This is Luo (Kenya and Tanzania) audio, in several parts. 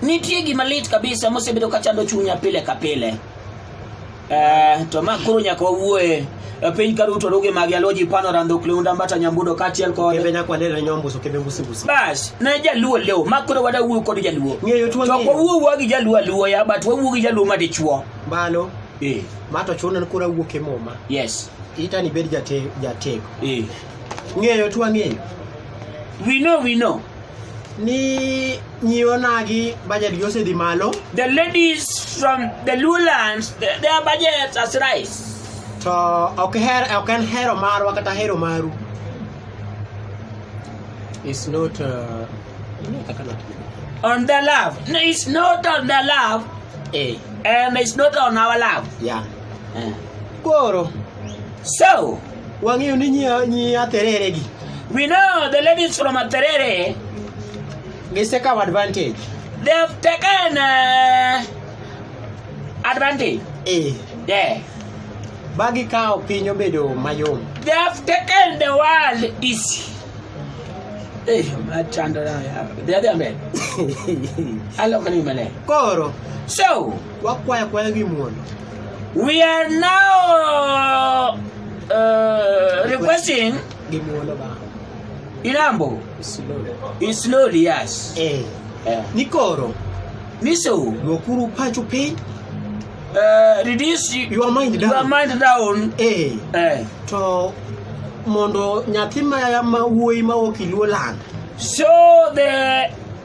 Nitie gima lit kabisa mosebedo ka chando chunya pile ka pile. Eh, to ma koro nyaka wawuoye e piny ka duto rugi magi aloji pano rando kleunda mbata nyambudo kaachiel kod kebe nyakwa lele nyombuso kebe mbusi mbusi bas ne jaluo leo ma koro wada wuo kod jaluo ng'eyo tuo to kwa wuo wuo gi jaluo aluo ya but wa wuo gi jaluo ma dichuo balo eh ma to chuno ni kura wuo ke moma yes ita ni bed jate jatego eh ng'eyo tuo ng'eyo we know we know ni nyionagi budget gi osedhi malo The ladies from the lowlands, th- their budgets has rise. to ok her ok en hero marwa kata hero maru is not uh, ing'e kaka natiyo. On their love. No, it's not on their love, eh and it's not on our love. yeah Eh. koro So, Wang'eyo ni nyi nyi aterere gi. We know the ladies from Aterere. Gisekawo advantage. They have taken uh, advantage. Eh. Yeah. Ba gikawo piny obedo mayom. They have taken the world easy. Eh, machando na ya. They are the men. Alo kanimane. Koro. So, wakwayo kwayo gi muono. We are now uh, requesting Ilambo. In slowly, yes. Eh. Yeah. Nikoro. Niso. Lokuru pacho pay. Uh, reduce your mind down. Your mind down. Eh. Eh. To mondo nyathi ma ma wuoyi ma ok iluo land. So the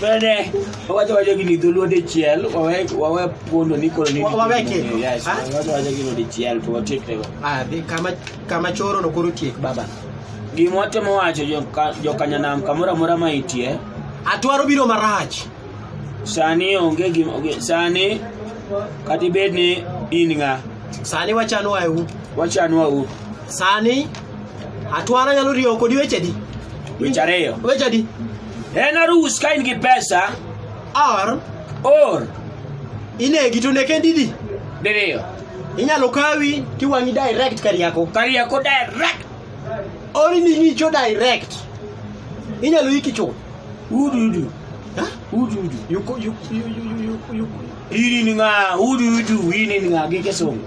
Bende wawacho wacho gini dholuo dichiel wawe wawe pondo ni koro ni wawe keko. Yes, ah? wawacho wacho gini dichiel to watiek tego. Ah, de kama kama choro no koro tiek baba. Gima watemo wacho jo jo kanyanam kamora mora ma itie. Atwaro biro marach. Sani onge gima sani kata ibed ni in ng'a sani wachanwa u wachanwa u sani Atwara nyalo riyo kodi weche di. Weche ariyo. Weche di. En arus ka in gi pesa. Or. Or. Inegi to neke didi. Diriyo. Inyalo kawi tiwang'i direct Kariako. Kariako direct. Or ni ngicho direct. Inyalo iki chuth. Udu udu. Ha? Udu udu. Yuko yuko yuko yuko. Ini ni nga udu udu ini ni nga gike songo.